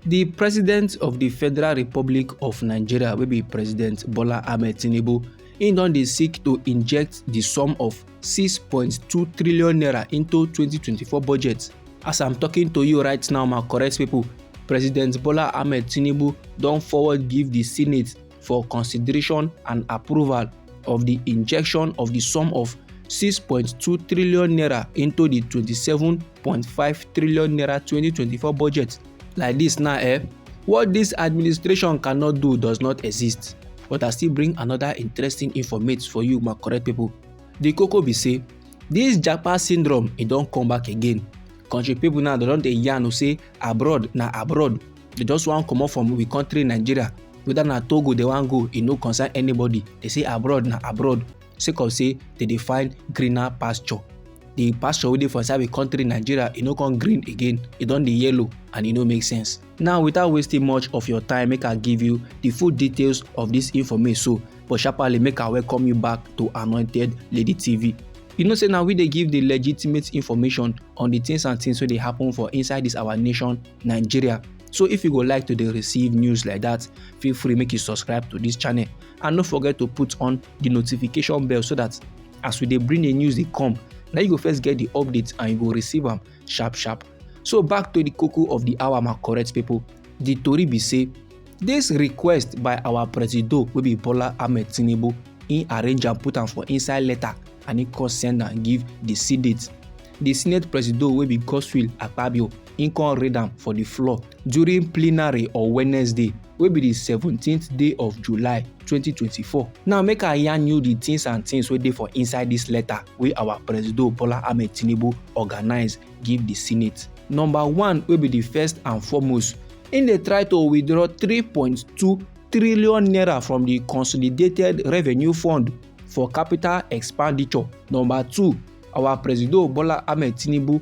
The president of the Federal Republic of Nigeria will be President Bola Ahmed Tinubu im don dey seek to inject the sum of 6.2 trillion naira into 2024 budget as i'm talking to you right now my correct people president bola ahmed tinubu don forward give the senate for consideration and approval of the injection of the sum of 6.2 trillion naira into the 27 5.5 trillion naira 2024 budget like this now eh what this administration cannot do does not exist but i still bring another interesting informate for you my correct people the koko be say this japa syndrome e don come back again country people now they don dey yarn say abroad na abroad they just wan comot from we country nigeria whether na togo they wan go e no concern anybody they say abroad na abroad sake of say dem dey find greener pasture the pasture wey dey for inside the country nigeria e no come green again e don dey yellow and e no make sense now without wasting much of your time make i give you the full details of this information so but sharparly make i welcome you back to anointed lady tv you know say now we dey give the legitimate information on the things and things wey dey happen for inside this our nation nigeria so if you go like to dey receive news like that feel free make you subscribe to this channel and no forget to put on the notification bell so that as we dey bring the news dey come na you go first get the update and you go receive am sharp sharp so back to the koko of the hour my correct people the tori be say this request by our presido wey be bola ahmed tinubu he arrange am put am for inside letter and he come send am give the senate the senate presido wey be godswill akpabio im come read am for di floor during plenary on wednesday wey be di 17th day of july 2024 now make i yarn you di tins and tins wey dey for inside dis letter wey our presido bola ahmed tinubu organise give di senate number one wey be di first and foremost im dey try to withdraw 3.2 trillion naira from di consolidated revenue fund for capital expenditure number two our presido bola ahmed tinubu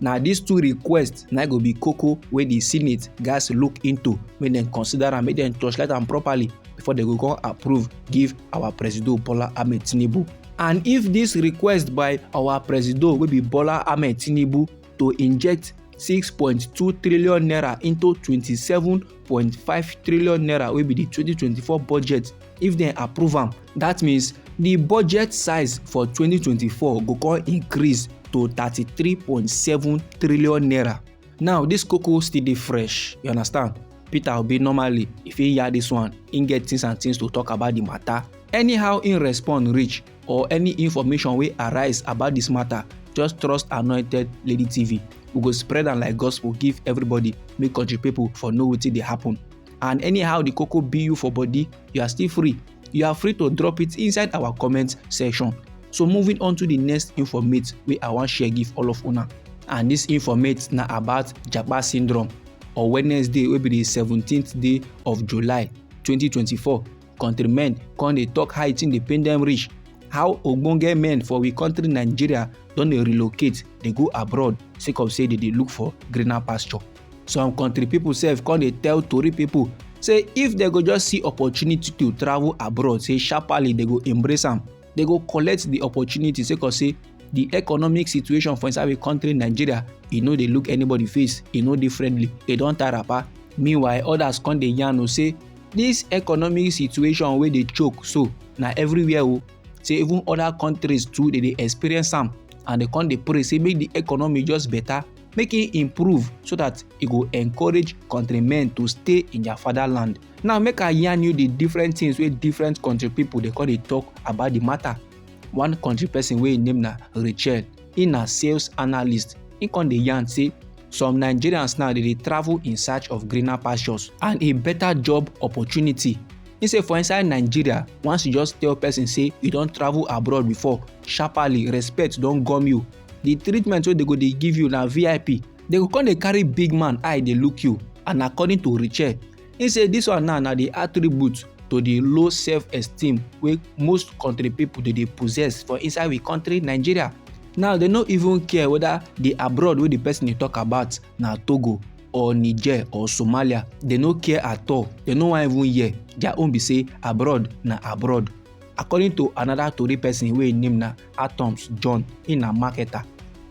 na dis two requests na go be koko wey di senate gatz look into make dem consider am make dem torchlight am properly before dem go come approve give our presido bola ahmed tinubu and if dis request by our presido wey be bola ahmed tinubu to inject 6.2 trillion naira into 27.5 trillion naira wey be di 2024 budget if dem approve am dat means di budget size for 2024 go come increase to 33.7 trillion naira now dis koko still dey fresh you understand peter obi normally if he hear dis one he get things and things to talk about di matter anyhow he respond reach or any information wey arise about dis matter just trust anointed lady tv we go spread am like gospel give everybody make country people for know wetin dey happen and anyhow the koko be you for body you are still free you are free to drop it inside our comment section so moving on to the next informate wey i wan share give all of una and this informate na about japa syndrome on wednesday wey be di seventeenth day of july 2024 countrymen come dey tok how e tin dey pain dem reach how ogbonge men for we country nigeria don dey relocate dey go abroad sake of say dey dey look for greener pasture some country people sef come dey tell tori people say if dem go just see opportunity to travel abroad say sharparly dem go embrace am dem go collect the opportunity sake of say the economic situation for inside the country nigeria e no dey look anybody face e no dey friendly e don tie wrapper meanwhile others come dey yarn o say this economic situation wey dey choke so na everywhere o say even other countries too dey dey experience am and dem come dey pray say make the economy just better make e improve so that e go encourage countrymen to stay in their fatherland now make i yarn you the different things wey different country people dey come dey talk about the matter one country person wey im name na rachel im na sales analyst im come dey yarn say some nigerians now dey dey travel in search of greener pastures and a better job opportunity He say for inside nigeria once you just tell person say you don travel abroad before sharparly respect don gum you the treatment wey they go dey give you na vip they go come dey carry big man eye dey look you and according to richard he say this one now na the attribute to the low self-esteem wey most country people dey dey possess for inside we country nigeria now they no even care whether the abroad wey the person dey talk about na togo or niger or somalia they no care at all they no wan even hear their own be say abroad na abroad according to another tori person wey im name na Atoms John, he na marketer.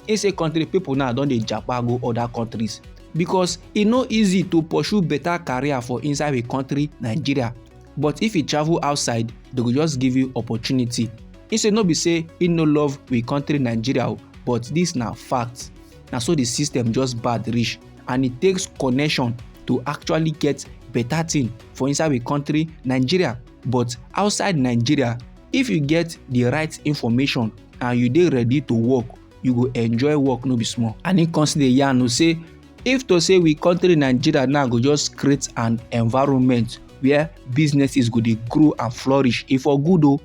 He say country people now don dey japa go other countries because e no easy to pursue better career for inside a country Nigeria but if you travel outside they go just give you opportunity he say no be say he no love we country nigeria oh, but this na fact na so the system just bad reach and it takes connection to actually get better thing for inside we country nigeria but outside nigeria if you get the right information and you dey ready to work you go enjoy work no be small and he come still dey yarn o say if to say we country nigeria now go just create an environment where businesses go dey grow and flourish e for good o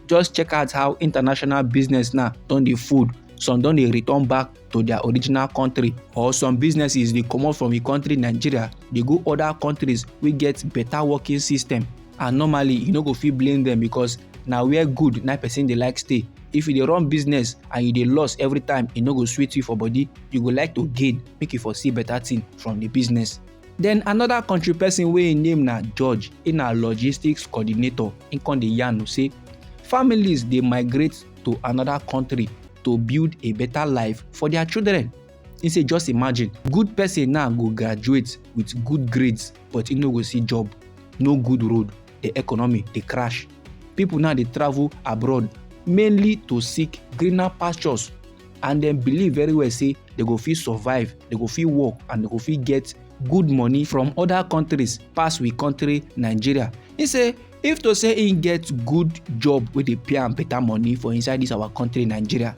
just check out how international business now don dey fold some don dey return back to their original country or some businesses dey comot from the country nigeria dey go other countries wey get better working system and normally you no go fit blame them because na where good na person dey like stay if you dey run business and you dey loss every time e no go sweet you for body you go like to gain make you for see better thing from the business then another country person wey im name na george im na logistics coordinator im come dey yarn say families dey migrate to another country to build a better life for their children. He say just imagine, good person now go graduate with good grades but he no go see job, no good road, the economy dey crash. People now dey travel abroad mainly to seek greener pastures and dem believe very well say they go fit survive, they go fit work and they go fit get good money from other countries pass we country Nigeria. He say if to say im get good job wey dey pay am better money for inside dis our country nigeria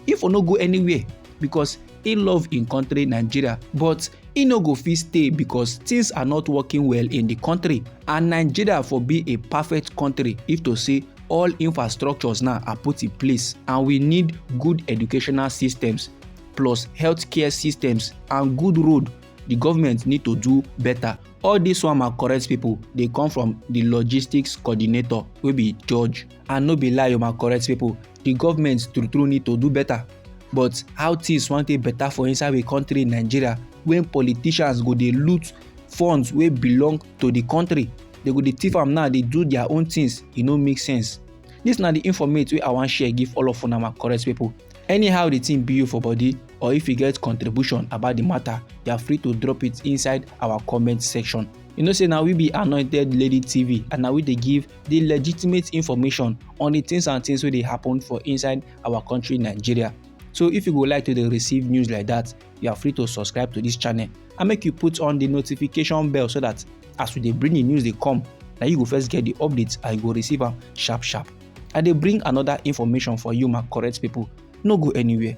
e for no go anywhere because e love im country nigeria but e no go fit stay because things are not working well in di country and nigeria for be a perfect country if to say all infrastructures now are put in place and we need good educational systems plus healthcare systems and good road the government need to do better all dis one ma correct people dey come from the logistics coordinator wey be george and no be lie o ma correct people the government true true need to do better but how things wan take better for inside we country nigeria when politicians go dey loot funds wey belong to the country they go dey thief am now dey do their own things e no make sense this na the informate wey i wan share give all of una ma correct people Anyhow the thing be you for body or if you get contribution about the matter, you are free to drop it inside our comment section. You know say now we be Anointed Lady TV and now we they give the legitimate information on the things and things where they happen for inside our country Nigeria. So if you would like to receive news like that, you are free to subscribe to this channel and make you put on the notification bell so that as we dey bring the news they come, now you go first get the updates and you go receive them sharp sharp. i dey bring another information for you my correct people no go anywhere